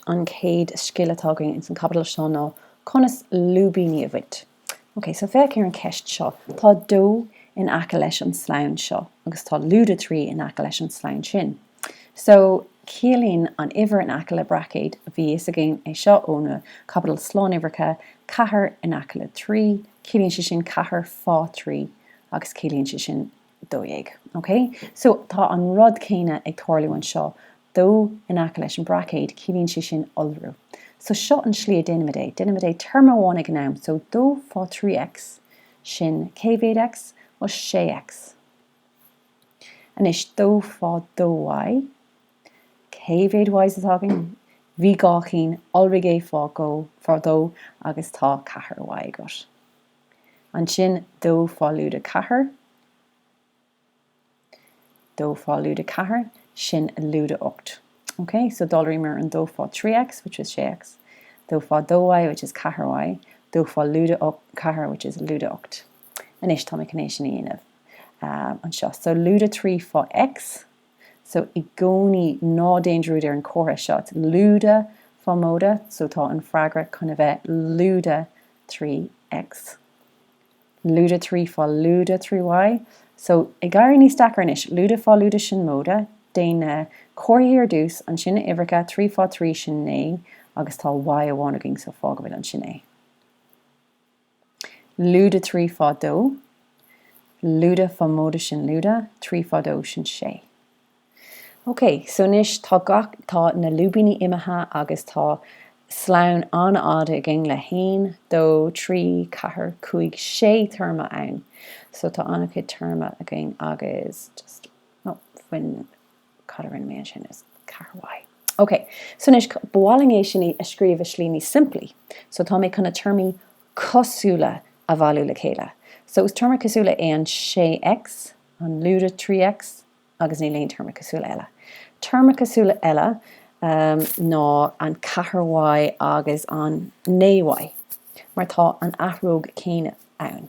an chéad scil atá againn ins an chaibidil seo ná conas lúibíní a bhaint. Ok, so féach ar an cheist seo. Tá dó in aice leis an slonn seo agus tá lúide 3 in aice leis an slonn sin. So, ciallaíonn an uimhir in aice le braicéid, bhí fhios againn é seo ó na caibidil slánuimhreacha, ceathair in aice le trí, ciallaíonn sé sin ceathair fá thrí agus ciallaíonn sé sin 12. OK? So, tá an rud céanna ag tarlú anseo dó in aice leis an Braicéad, ciallaíonn sé sin iolrú. So, seo an slí a déanaimid é, déanaimid é téarma amháin ag an am. So, dó fá thrí X, sin cé mhéad X? Ó, sé X. Anois, dó fá dó Y, cé mhéad Ys atá againn? Bhí dhá cheann, iolraigh é fá dó, agus tá ceathair Y agat. Ansin dó fá lúide ceathair, dó fá lúide ceathair, sin lúide ocht. Ok? So d'iolraíomar an dó fá thrí X, which is sé X, dó fá dó Y, which is ceathair Y, dó fá lúide ceathair, which is lúide ocht. Anois, tá mé chun é sin a dhéanamh anseo. So lúide trí fá X. so i gcónaí ná déan dearúd ar an comhartha seo, it's lúide fá móide so tá an freagra chun a bheith lúide trí X, lúide trí fá lúide trí Y so ag éirí níos deacra anois, lúide fá lúide sin móide, déan na comharthaí ar dtús, ansin na uimhreacha, trí fá trí sin naoi agus tá Y amháin againn so fág go bhfuil ansin é. Lúide trí fá dó, Lúide fá móide sin Lúide trí fá dó sin sé. Ok, so anois tá gach, tá na lúibíní imithe agus tá slonn an-fhada againn le haon, dó, trí, ceathair, cúig, sé téarma ann. So tá an-chuid téarma againn agus just, oh, fan. Cad a rinne mé ansin? Is ceathair Y. Ok, so anois, ba mhaith linn é sin a scríobh i slí níos simplí. So tá mé chun na téarmaí cosúla a bhailiú le chéile. So is téarma cosúla é an 6X, an lúide 3X, agus níl aon téarma cosúla eile. Téarma cosúla eile ná an ceathair Y agus an naoi Y, mar tá an athróg chéanna ann.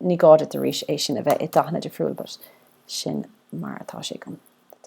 Ní gá duit arís é sin a bheith i dathanna difriúil but sin mar atá sé agam.